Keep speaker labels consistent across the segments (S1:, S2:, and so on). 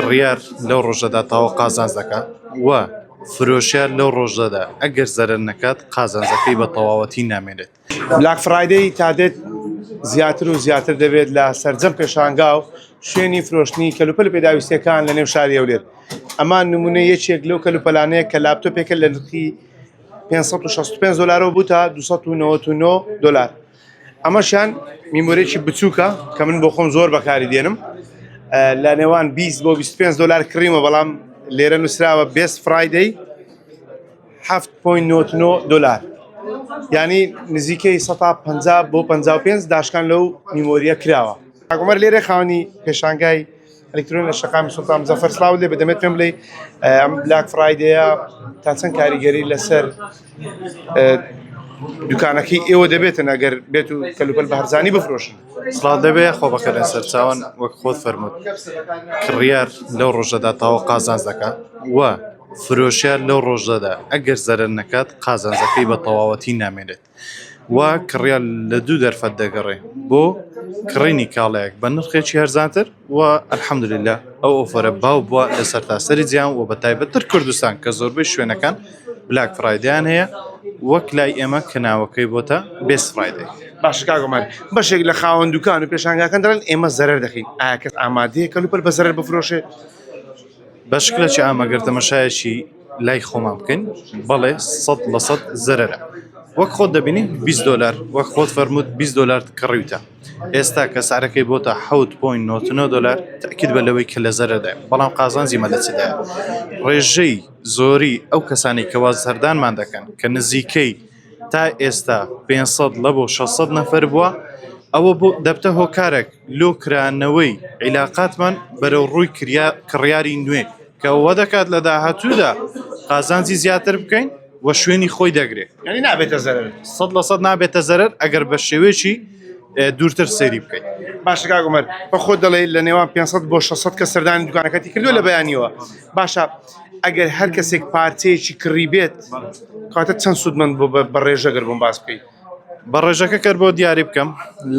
S1: کڕیار لەو ڕۆژەدا تەواو قازانج دەکات و فرۆشیار لەو ڕۆژەدا ئەگەر زەرەر نەکات قازانجەکەی بە تەواوەتی نامێنێت. بلاک فرایدەی
S2: تادێت زیاتر و زیاتر دەبێت لە سەرجەم پێشانگا و شوێنی فرۆشتنی کەلوپەل پێداویستیەکان لە نێو شاری هەولێر ئەمان نمونە یەکێک لەو کەلوپەلانەیە کە لاپتۆپێکە لە نرخی 565 دلارەوە بوو تا 299 دلار. ئەمەشیان میمۆرێکی بچووکە کە من بۆ خۆم زۆر بەکاری دێنم لە نێوان 20 بۆ 25 دلار کڕیمە بەڵام لێرە نووسراوە بێست فرایدەی 7.99 دلار ینی نزیکەی 150 بۆ 55 داشکان لەو میمۆریە کراوە ئەگومەر لێرە خاونی پێشانگای ئەلیکترۆن لە شەقامی سوڵتان مزەفەر سڵاوت لێبێت دەمەوێت پێم بڵێی ئەم بلاک فرایدەیە تا چەند کاریگەری لەسەر دوکانەکەی ئێوە دەبێتن ئەگەر بێت و کەلوپەل بە هەرزانی بفرۆشن سڵاو دەبێ خۆ
S1: بەکە لە سەرچاوان وەک خۆت فەرمووت کڕیار لەو ڕۆژەدا تاوە قازانج دەکات و فرۆشیار لەو ڕۆژەدا ئەگەر زەرەر نەکات قازانجەکەی بە تەواوەتی نامێنێت وا کڕیار لە دوو دەرفەت دەگەڕێ بۆ کڕینی کاڵایەک بە نرخێکی هەرزانتر و الحمدللە ئەو ئۆفەرە باو بووە لە سەرتاسەری جیهان و بە تایبەتتر کوردستان کە زۆربەی شوێنەکان بلاک فرایدەیان هەیە وەک لای ئێمە کە ناوەکەی بۆتە بێست فرایدەی. باشە کاک عومەر
S2: بەشێک لە خاوەن دوکان و پێشانگاکان دەڵێن ئێمە زەرەر دەکەین ئایا کەس ئامادەیە کەلوپەل بە زەرەر بفرۆشێت؟ بە
S1: شکلێکی عام ئەگەر تەمەشایەکی. لای خۆمان بکەین بەڵێ سەد لە سەد زەرەرە وەک خۆت دەبینی 20 دلار وەک خۆت فەرمووت 20 دلار کڕیوتە ئێستا کە سعرەکەی بۆتە 7.99 دلار تاکید بە لەوەی کە لە زەرەدای بەڵام قازانجی مە لە چدا ڕێژەی زۆری ئەو کەسانی کەوا سەردانمان دەکەن کە نزیکەی تا ئێستا پێنج سەد ڵە بۆ شەش سەد نەفەر بووە، ئەوە بۆ دەبتە هۆکارەک لۆ کرانەوەی عیلاقاتمان بەرەو ڕووی کریا کڕیاری نوێ کە وە دەکات لە داهاتوودا قازانجی زیاتر بکەین و شوێنی خۆی دەگرێ. یانی نابێتە زەرەر؟
S2: سەد لە سەد نابێتە
S1: زەرەر ئەگەر بە شێوەیەکی دوورتر سەیری بکەین. باشە کاک عومەر
S2: بە خۆت دەڵێی لە نێوان پێنج سەد بۆ شەش سەد کەس سەردانی دوکانەکەتی کردووە لە بەیانیەوە باشە، ئەگەر هەر کەسێک پارچەیەکی کڕی بێت کاتە چەند سوودمەند بۆ بە ڕێژە گەر بۆم باس بکەیت بە ڕێژەکە
S1: کەر بۆ دیاری بکەم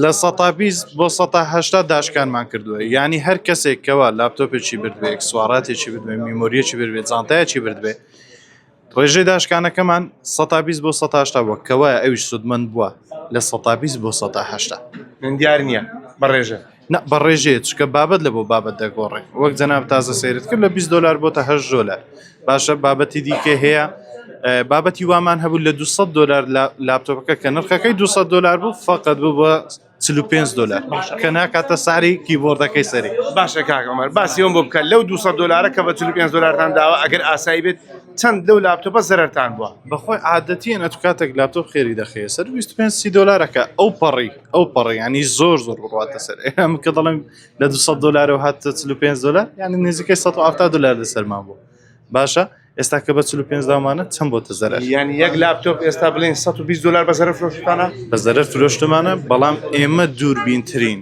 S1: لە سەتا بیست بۆ سەتا هەشتا داشکانمان کردووە یانی هەر کەسێک کەوا لاپتۆپێکی بردبێ ئەکسسواراتێکی بردبێ میمۆریەکی بردبێ جانتایەکی بردبێ ڕێژەی داشکانەکەمان سەتا بیست بۆ سەتا هەشتا بووە کەوایە ئەویش سوودمەند بووە لە سەتا بیست بۆ سەتا هەشتا من دیار نییە
S2: بە ڕێژە نا بەڕێژەیە
S1: چکە بابەت لە بۆ بابەت دەگۆڕێ وەک جەناب تازە سەیرت کرد لە 20 دلار بۆتە هە ژۆلە باشە بابەتی دیکە هەیە بابەتی وامان هەبوو لە 200 دلار لە لاپتۆپەکە کە نرخەکەی 200 دلار بوو فقط بوو بە 45 دلار کە ناکاتە ساری کیبۆردەکەی سەری باشە کاکەمەر
S2: باسیەوە بۆ بکە لەو 200 دلارە کە بە 45 دلارتان داوە ئەگەر ئاسایی بێت چەند لەو لاپتۆپە زەرتان بووە بەخۆی عادەتیە
S1: نەتوکاتێک لاپتۆپ خێری دەخەیە سەر 25 دلارەکە ئەو پەڕی ئەو پەڕی ینی زۆر زۆر بڕاتە سەر ئەم کە دەڵێن لە 200 دلارەوە هات 5 دلار ینی نزیکەی 1970 دلار لەسەرمان بوو باشە ئێستا کە بە 5 دامانە چەند بۆ تەزەر ینی یەک لاپتۆپ
S2: ئێستا بڵین 120 دلار بە
S1: زەرە
S2: فرۆشتانە
S1: بە
S2: زەرە
S1: فرۆشتمانە بەڵام ئێمە دووربینترین.